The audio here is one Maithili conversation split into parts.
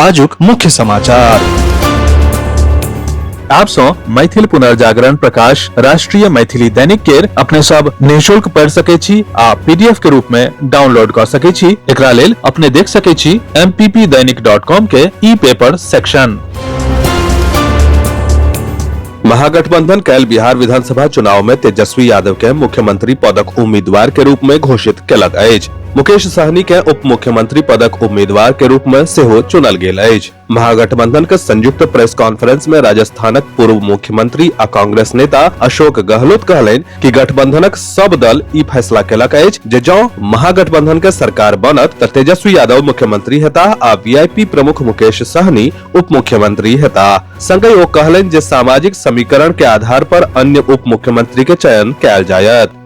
आजुक मुख्य समाचार आप सो मैथिल पुनर्जागरण प्रकाश राष्ट्रीय मैथिली दैनिक केर अपने सब निशुल्क पढ़ सके छी आ पीडीएफ के रूप में डाउनलोड कर सके छी एकरा लेल अपने देख सके छी mppdainik.com के ई पेपर सेक्शन महागठबंधन कैल बिहार विधानसभा चुनाव में तेजस्वी यादव के मुख्यमंत्री पदक उम्मीदवार के रूप में घोषित केलक अछि मुकेश सहनी के उप मुख्यमंत्री पदक उम्मीदवार के रूप में सेहो चुनल गेल अछि महागठबंधन के संयुक्त प्रेस कॉन्फ्रेंस में राजस्थानक पूर्व मुख्यमंत्री आ कांग्रेस नेता अशोक गहलोत कहलनि कि गठबंधनक सब दल ई फैसला केलक अछि जे जौ महागठबंधन के सरकार बनत त तेजस्वी यादव मुख्यमंत्री हेता आ वीआईपी प्रमुख मुकेश सहनी उप मुख्यमंत्री हेता संगहि ओ कहलनि जे सामाजिक समीकरण के आधार पर अन्य उप मुख्यमंत्री के चयन कयल जायत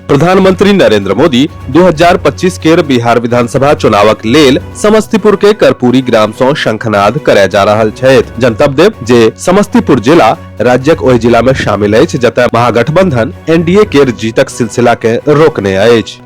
प्रधानमंत्री नरेंद्र मोदी 2025 केर बिहार विधानसभा चुनावक लेल समस्तीपुर के कर्पूरी ग्राम सं शंखनाद करय जा रहल छथि जनतब देव जे समस्तीपुर जिला राज्यक ओहि जिला में शामिल अछि जतय महागठबंधन एनडीए केर जीतक सिलसिला के रोकने अछि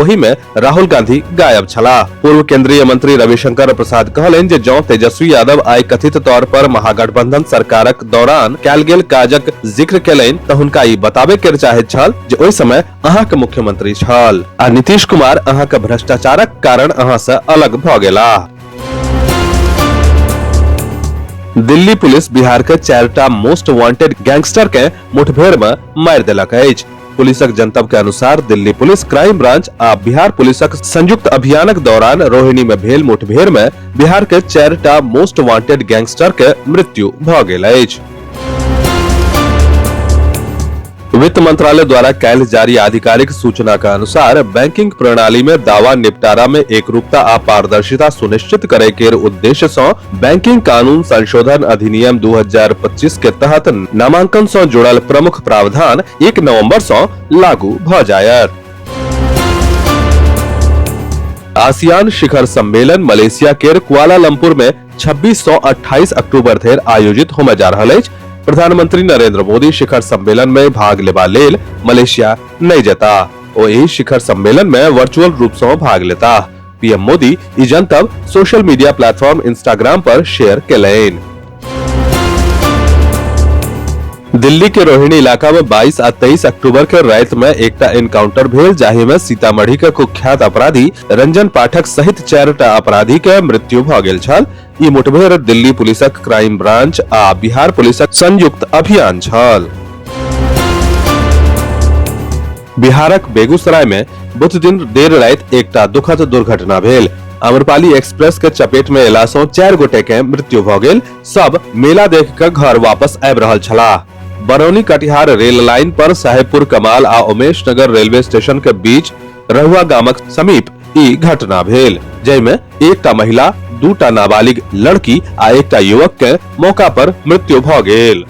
ओहि में राहुल गांधी गायब छलाह पूर्व केंद्रीय मंत्री रविशंकर प्रसाद कहलनि जे जौं तेजस्वी यादव आइ कथित तौर पर महागठबंधन सरकारक दौरान कैल गेल काजक जिक्र केलनि तऽ हुनका ई बताबे के चाहैत छल जे ओहि समय अहाँ के मुख्यमंत्री छल आ नीतीश कुमार अहाँ के भ्रष्टाचारक कारण अहाँ से अलग भऽ गेलाह दिल्ली पुलिस बिहार के चारिटा मोस्ट वांटेड गैंगस्टर के मुठभेड़ में मारि देलक अछि पुलिसक जनतब के अनुसार दिल्ली पुलिस क्राइम ब्रांच आ बिहार पुलिसक संयुक्त अभियानक दौरान रोहिणी में भेल मुठभेड़ में बिहार के चारिटा मोस्ट वांटेड गैंगस्टर के मृत्यु भ गेल अछि वित्त मंत्रालय द्वारा कैल जारी आधिकारिक सूचना का अनुसार बैंकिंग प्रणाली में दावा निपटारा में एकरूपता आ पारदर्शिता सुनिश्चित करे के उद्देश्य सँ बैंकिंग कानून संशोधन अधिनियम 2025 के तहत नामांकन सं जुड़ल प्रमुख प्रावधान 1 नवंबर सं लागू भ जायत आसियान शिखर सम्मेलन मलेशिया के कुआलालंपुर में 26 सौ 28 अक्टूबर धरि आयोजित होमे जा रहल अछि प्रधानमंत्री नरेंद्र मोदी शिखर सम्मेलन में भाग लेबा लेल मलेशिया नहि जेता ओ एहि शिखर सम्मेलन में वर्चुअल रूप सं भाग लेता पीएम मोदी ई जनतब सोशल मीडिया प्लेटफॉर्म इंस्टाग्राम पर शेयर कैलैन दिल्ली के रोहिणी इलाका में 22 आ 23 अक्टूबर के रात में एकटा एनकाउंटर भेल जाहि में सीतामढ़ी के कुख्यात अपराधी रंजन पाठक सहित चार टा अपराधी के मृत्यु भ गेल छल ई मुठभेड़ दिल्ली पुलिसक क्राइम ब्रांच आ बिहार पुलिसक संयुक्त अभियान छल बिहारक बेगूसराय में बुध दिन देर रात एकटा दुखद दुर्घटना भेल अमरपाली एक्सप्रेस के चपेट में एला सौ चार गोटे के मृत्यु भ गेल सब मेला देख के घर वापस आबि रहल छलाह बरौनी कटिहार रेल लाइन पर साहेबपुर कमाल आ उमेश नगर रेलवे स्टेशन के बीच रहुआ गामक समीप ई घटना भेल जाहिमे एकटा महिला दूटा नाबालिग लड़की आ एकटा युवक के मौका पर मृत्यु भ गेल